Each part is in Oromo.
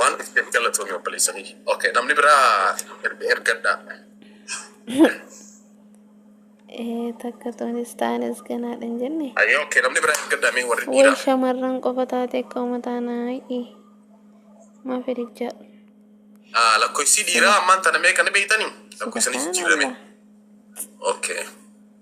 Waan dhufteef galatoomi obboleessa kiyya. Okay, namni biraa erga- ergadhaa. Ee takka tunis taanes ganaadha hin jenne. Ayyoo, okay, namni biraa ergadhaa mee warri Way dhiiraa. shamarran qofa taate akka uummataa naayi. Maa fedhichaa. Ah, Lakkoofsi dhiiraa ammaan tana meeqa ni beektanii? Lakkoofsa ni jijjiirame. Subhanallah. Okay.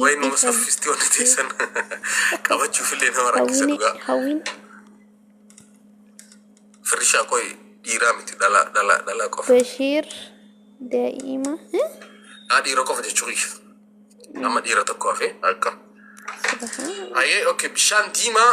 Wayi nama Dhiifama. saffisti wanti teessan qabachuuf illee nama rakkisa Hawwiin dhugaa. hawwiin Firrishaa qoy dhiiraa miti dhalaa dhalaa dhalaa qofa. Bashiir daa'ima eh? Haa dhiira qofa jechuu kiyya. Amma dhiira tokko hafee akka. Subhaan. Ayee okay bishaan diimaa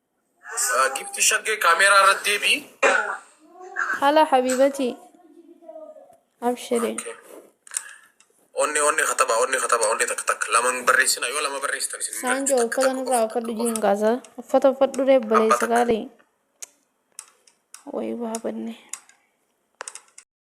Gifti shaggee kaameeraa irratti deebi'i. Hala habibati. Abshiri. Onne onne kataba onne kataba onne takka takka laman barreessina yoo lama barreessitan isin hin Saanjoo galchu, takka uffata takka nurraa qofa. uffadhu jiin kaasa. Uffata uffadhu ree baleessa gaarii. Wayi waa banne.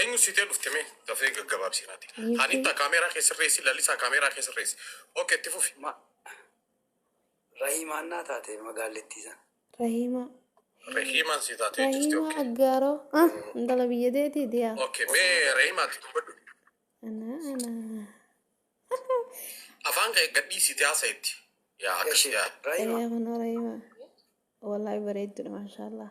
Enyu si tee dhufte mee gafee gagababsi nati Hanitta Yusuf camera kee sirreessi Lalisaa camera kee sirreessi ok itti fufi. Ma Rahimaan naa taate magaallittii san. Rahimaa Rehiman si tate jirti ok Rahimaa aggaaro ah intala biyya teetii diyaa ok mee Rehimaa ti dubbadhu anaa anaa afaan kee gadhii si tee hasa itti yaa akkas Gashee yaa Rahima. Eeyaa kunoo Rahimaa wallahi bareeddudha maashaallah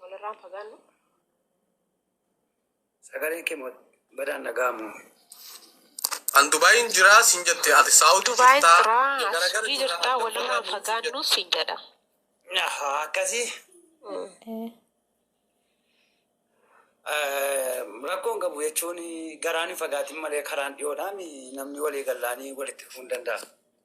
Walirraan fagaannu. Sagaleen kee moo badaan dhaga'amu. An Dubaayin jiraa siin jette ati Saawudi Dubaayin jirtaa jiraa asii garagara jirta jirtaa adda walirraan baanaan siin fagaannu jette. siin jedha. Ahaa, Akkasii Eh, eh, rakkoon qabu jechuun garaan hin fagaatin malee karaan dhiyoodhaan namni walii gallaanii walitti dhufuu hin danda'a.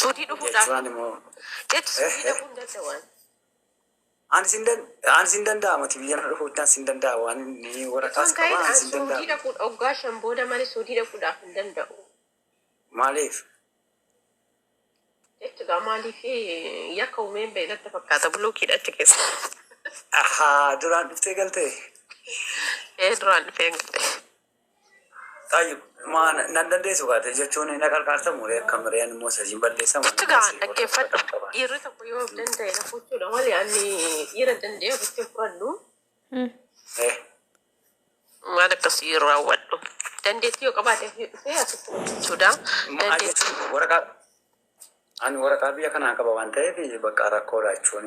Suudii dhufuu dhaaf. Jechuun moo. Jechu suudii dhaquu hin danda'an. Ani sin dan ani sin danda'a mati biyya na dhufu tan sin danda'a waan ni warra kaas qaba ani sin danda'a. Suudii dhaquu dhoggaa shan booda malee suudii dhaquu dhaaf hin danda'u. Maaliif? Jechu gaa maaliif yakka umeen ba'e natti fakkaata bulookiidha achi keessa. Ahaa duraan dhuftee galtee. Ee duraan dhufee galee. Tayyib, maa na- nan dandeessu kaate jechuun na qarqaarta muree akka mireen immoo sajiin balleessa muree Itti ga'a dhaggeeffadhu. qaba. Dhiirri tokko yoo of danda'e na fuuchuudha malee ani dhiira danda'e ofitti hin fudhadhu. Eh, Waan akkasii hin raawwadhu. Dandeettii yoo qabaate fi dhufee asitti hojjechuudha. maal Dandeettii jechuun waraqaa ani waraqaa biyya kanaa qaba waan ta'eef bakka rakkoodha jechuun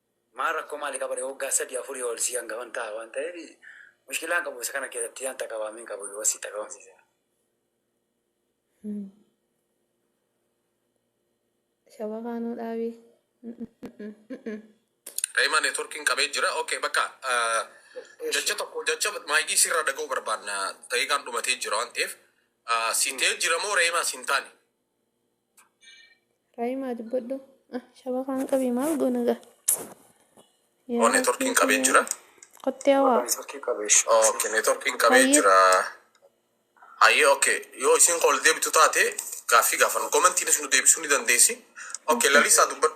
Maa rakkoo maali qaba ree woggaa sadii afurii ol sii angafan taha waan tahefi mushkilaa hin qabu isa kana keessattii an taqawaamii hin qabu yoo sii taqawamsiise. Shababaa nuu dhaabii. Rayma network hin qabee jira okay bakka jacha tokko jacha maayikii sirra dhaga'u barbaanna daqiiqaan dhumatee jira waan ta'eef sitee jira moo reemaa sin taane Raayimaa dubbadhu. Ah, shabakaan qabii maal goona gaa? Yaa Oo networkiin Rabbii qabee kiyya. jira. Kottee hawaa. Networkii qabee. Okay, networkiin qabee Hayyee. jira. Hayyee okay. Yoo isin ol deebitu taate gaaffii gaafannu. Komentiinis nu deebisuu ni dandeessi. Okay, lalisaa dubbadhu.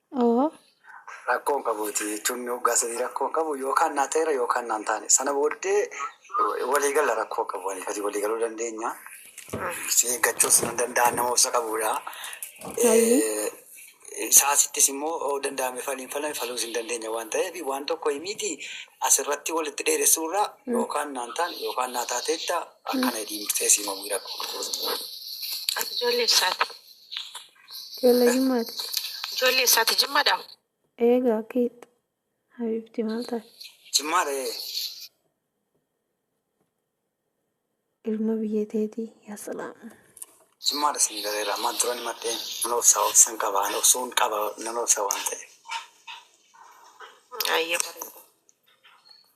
Oo. Rakkoo hin qabuuti jechuun hoggaa sadii rakkoo hin qabu yookaan naa ta'eera yookaan naan taane sana booddee walii galla rakkoo qabu walii gadi walii galuu dandeenya. Si eeggachuus nan danda'a nama obsa qabuudha. Saasittis immoo danda'ame faliin falame faluus hin dandeenya waan ta'eef waan tokko himiiti asirratti walitti dheeressuu irraa yookaan naan taane yookaan naa taateetta akkana jedhii murteessi himamuu rakkoo qabuuti. Ati ijoollee eessaati? Ijoollee jimmaati. Ijoollee eessaati jimmadha? Eega akkiit. Habiibti maal taate? Jimmaadha ee. Ilma biyya teetii yaa salaam. Jimmaadha isin galeera. Amma duran madhee nan obsa obsan qaba nan obsuun qaba nan obsa waan ta'eef. Ayyee bareeda.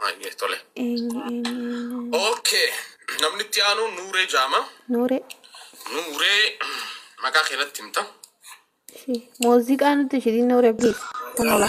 Baay'ee tole. Eenyu eenyu eenyu. Okay. Namni itti aanu Nuuree Jaama. Nuure. Nuuree maqaa kee natti himta. Ishii. Muuziqaa nutti ishii Nuure please. Kun ola.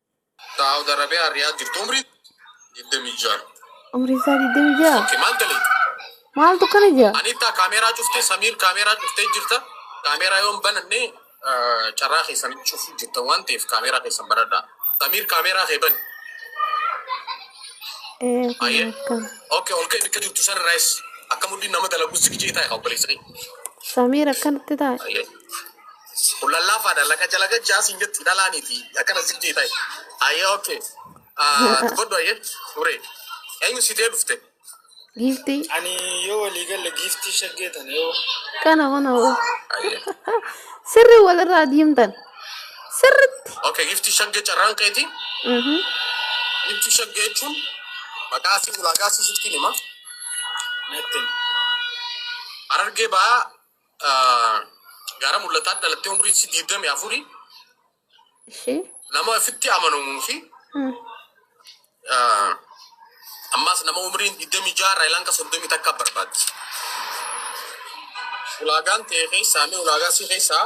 Saawud Arabiyaan Riyaad jirtu umrii 26. Umriin isaa 26. Oke maal daleeti? Maaltu kana jira? Anittaa kaameeraa cuftee Samiir kaameeraa cuftee jirta. Kaameeraa yoon bananne eh, carraa keessan cufuu jirta waan ta'eef kaameeraa keessan banadha. Samiir kaameeraa kee bani. Ee kun Ayyee. akkana. Oke ol ka'e bakka jirtu san irraayis akka mudhiin nama dalagu si gijee taa'e obboleessa kee. Samiir akkanatti taa'e. Ayyee. Kun lallaafaadha laqa jala gachaa siin jetti dhalaaniiti akkana ziqqii ta'e. Ayyee okay. Dubbadhu ayyee uree. Eenyu si ta'e dhufte? Giiftii Ani yoo walii galle giiftii shaggee tan yoo kana mana hoo. Ayyee. Sirri walirraa diimtan. Sirritti. Okay giftii shaggee carraan keeti. Mhm. Giftii shaggee jechuun maqaa si ulaagaa si sittiin hima. natti Harargee ba'aa Gaara mul'ataa dhalattee umrii isii digdamii afurii Ishee. nama ofitti amanamuu fi Hmm. ah, ammaas nama umriin digdamii ja'a irraa ilanga soddomii takka barbaaddi. Ulaagaan ta'e keessaa mee ulaagaa si keessaa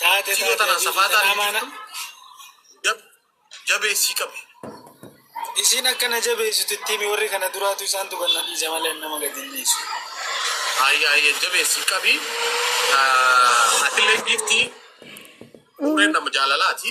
Taate Tiyoo tanaan safaataa Tanaa maana. dhiiftu jab jabeessii qabi. Isiin akka na jabeessitu itti himi warri kana duraatu isaantu kan na dhiise malee ani nama gadi hin dhiisu. Ayya ayya jabeessii qabi. Atillee giiftii umriin nama jaalalaati.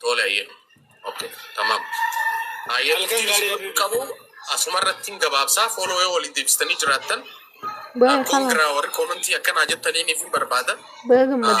Tole hayyee. Ok. Tamam. Hayyee Halkan turtii gaarii isin Habibi. qabu asuma irrattiin gabaabsaa fooloo yoo waliin deebistanii jiraattan Baga kalaan. koongiraa warri koomentii akkanaa jettaniin ifin barbaada. Baga gammaddan.